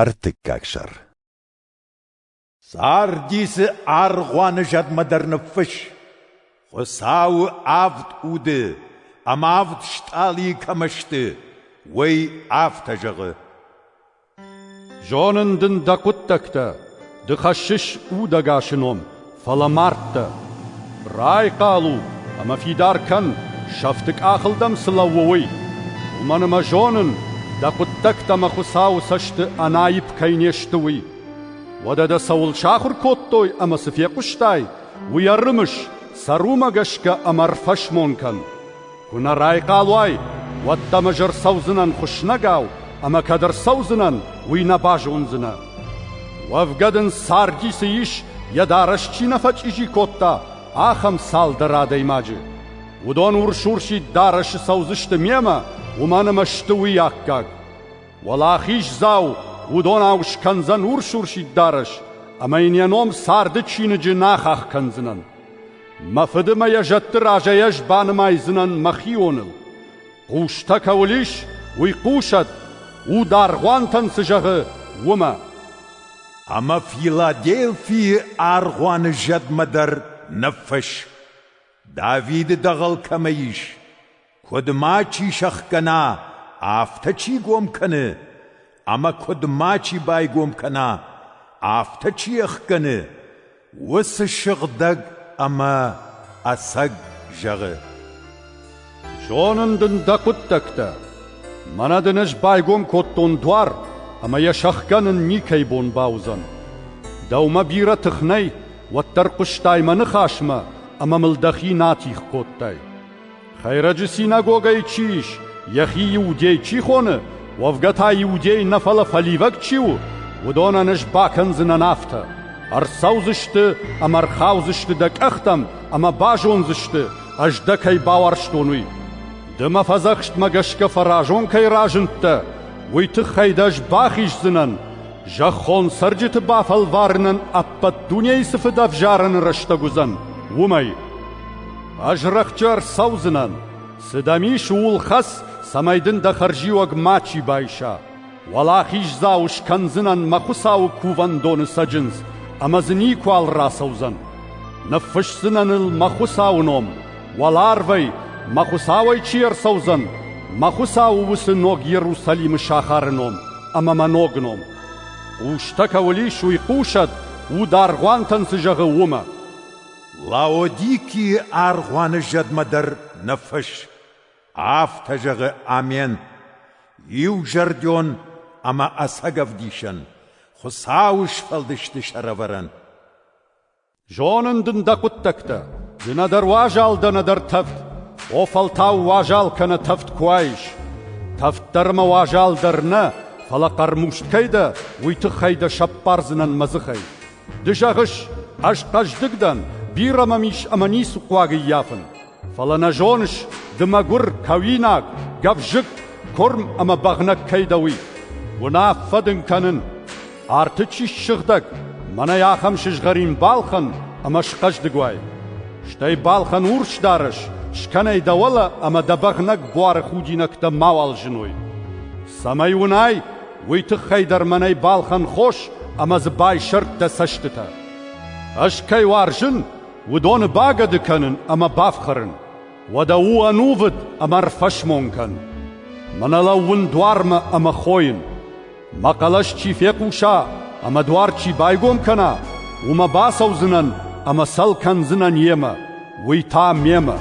Ӕртыккаг сӕр Царди дзы аргъуаны зӕдмӕ дӕр ныффысс. Хуыцауы авд уды ӕмӕ авд стъалыйы кӕмӕ сты, уый афтӕ зӕгъы. Зонын дын дӕ хъуыддӕгтӕ, ды хӕссыс удӕгасы ном, Фӕлӕ мӕрдтӕ! Райхъал у ӕмӕ фидар кӕн, сӕфты къахыл дӕм цы лӕууы, уый. Уымӕн ӕмӕ зонын, дӕ хъуыддӕгтӕ мӕ Хуыцауы цӕсты ӕнаипп кӕй не сты, уый. Уӕдӕ дӕ цӕуыл сахуыр кодтой ӕмӕ цы фехъуыстай, уый ӕрымыс, сӕ румӕ гӕсгӕ ӕмӕ ӕрфӕсмон кӕн. Куы нӕ райхъал уай, уӕд дӕм ӕз ӕрцӕудзынӕн хуыснӕгау, ӕмӕ кӕд ӕрцӕудзынӕн, уый нӕ базондзынӕ. Уӕвгӕ дын Сарди цы ис, йӕ дарӕс чи нӕ фӕчъизи кодта, ахӕм цалдӕр адӕймаджы. Уыдон урс-урсид дарӕсы цӕудзысты мемӕ, уымӕн ӕмӕ сты уый аккаг. Уӕлахиздзау уыдонау скӕндзӕн урс-урсид дарӕс, ӕмӕ йын йӕ ном царды чиныджы нӕ ахах кӕндзынӕн. Мӕ фыды мӕ йӕ зӕдты разӕй ӕз банымайдзынӕн мӕхионыл. Хъустӕ кӕуыл ис, уый хъусӕд, уд аргъуантӕн цы зӕгъы, уымӕ. Ӕмӕ Филадельфийы аргъуаны зӕдмӕ дӕр ныффысс, Давиды дӕгъӕл кӕмӕ ис, Куыд ма чи сӕхгӕна, афтӕ чи гом кӕны, ӕмӕ куыд ма чи байгом кӕна, афтӕ чи ӕхгӕны, уыцы сыгъдӕг ӕмӕ ӕцӕг зӕгъы: «Зонын дын дӕ хъуыддӕгтӕ. Мӕнӕ дын ӕз байгом кодтон дуар, ӕмӕ йӕ сӕхгӕнын никӕй бон бауыдзӕн. Дӕумӕ бирӕ тых нӕй, уӕддӕр хъуыстай мӕ ныхасмӕ ӕмӕ мыл дӕхи натих кодтай. Хӕйрӕджы синагогӕйы чи ис, йӕхи иудей чи хоны, уӕвгӕ та иудей нӕ фӕлӕ фӕливӕг чи у, уыдонӕн ӕз бакӕндзынӕн афтӕ: ӕрцӕудзысты ӕмӕ ӕрхаудзысты дӕ къӕхтӕм ӕмӕ базондзысты, ӕз дӕ кӕй бауарзтон, уый. Ды мӕ фӕдзӕхстмӕ гӕсгӕ фӕразон кӕй разындтӕ, уый тыххӕй дӕ ӕз бахиздзынӕн, зӕххон цӕрджыты бафӕлварынӕн ӕппӕт дунейы цы фыд ӕвзарӕны рӕстӕг уыдзӕн, уымӕй. Ӕз рӕхджы ӕрцӕудзынӕн, цы дӕм ис, ууыл хӕц, цӕмӕй дын дӕ хӕрзиуӕг мачи байса. Уӕлахиздзау скӕндзынӕн мӕ Хуыцауы кувӕндоны цӕджындз, ӕмӕ дзы никуал рацӕудзӕн. Ныффысдзынӕн ыл мӕ Хуыцауы ном, уӕларвӕй, мӕ Хуыцауӕй чи ӕрцӕудзӕн, мӕ Хуыцауы уыцы ног Иерусалимы сахары ном ӕмӕ мӕ ног ном. Хъустӕ кӕуыл ис, уый хъусӕд, уд аргъуантӕн цы зӕгъы, уымӕ. Лаодикийы аргъуаны зӕдмӕ дӕр нӕ фыс. Афтӕ зӕгъы Амен, иузӕрдион ӕмӕ ӕцӕгӕвдисӕн, Хуыцауы сфӕлдысты сӕрӕвӕрӕн. Зонын дын дӕ хъуыддӕгтӕ, ды нӕдӕр уазал дӕ, нӕдӕр тӕвд. О фӕлтау уазал кӕнӕ тӕвд куы уаис. Тӕвд дӕр ӕмӕ уазал дӕр нӕ, фӕлӕ хъӕрмуст кӕй дӕ, уый тыххӕй дӕ сӕппардзынӕн мӕ дзыхӕй. Ды зӕгъыс, ӕз хъӕздыг дӕн, бирӕ мӕм ис ӕмӕ ницы хъуаг ӕййафын. Фӕлӕ нӕ зоныс, ды мӕгуыр, кӕуинаг, гӕвзыкк, куырм ӕмӕ бӕгънӕг кӕй дӕ, уый. Уынаффӕ дын кӕнын: арты чи ссыгъдӕг, мӕнӕй ахӕм сызгъӕрин балхӕн ӕмӕ схъӕздыг уай. Стӕй балхӕн урс дарӕс, скӕнай дӕ уӕлӕ ӕмӕ дӕ бӕгънӕг буары худинӕгтӕ мауал зыной. Цӕмӕй уынай, Уый тыххӕй дӕр мӕнӕй балхӕн хос ӕмӕ дзы байсӕрд дӕ цӕстытӕ. Ӕз кӕй уарзын, уыдоны багӕды кӕнын ӕмӕ бафхӕрын. Уӕдӕ у ӕнувыд ӕмӕ ӕрфӕсмон кӕн. Мӕнӕ лӕууын дуармӕ ӕмӕ хойын. Мӕ хъӕлӕс чи фехъуса ӕмӕ дуар чи байгом кӕна, уымӕ бацӕудзынӕн ӕмӕ сӕл кӕндзынӕн йемӕ, уый та мемӕ.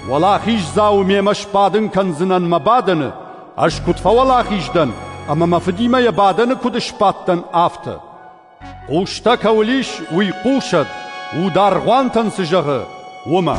Уӕлахиздзау мемӕ сбадын кӕндзынӕн мӕ бадӕны Ӕз куыд фӕуӕлахиз дӕн, ӕмӕ мӕ фыдимӕ йӕ бадӕны куыд сбӕттӕн, афтӕ. Хъустӕ кӕуыл ис, уый хъусӕд, у дӕргъвӕнтӕн цы зӕгъы, уымӕ.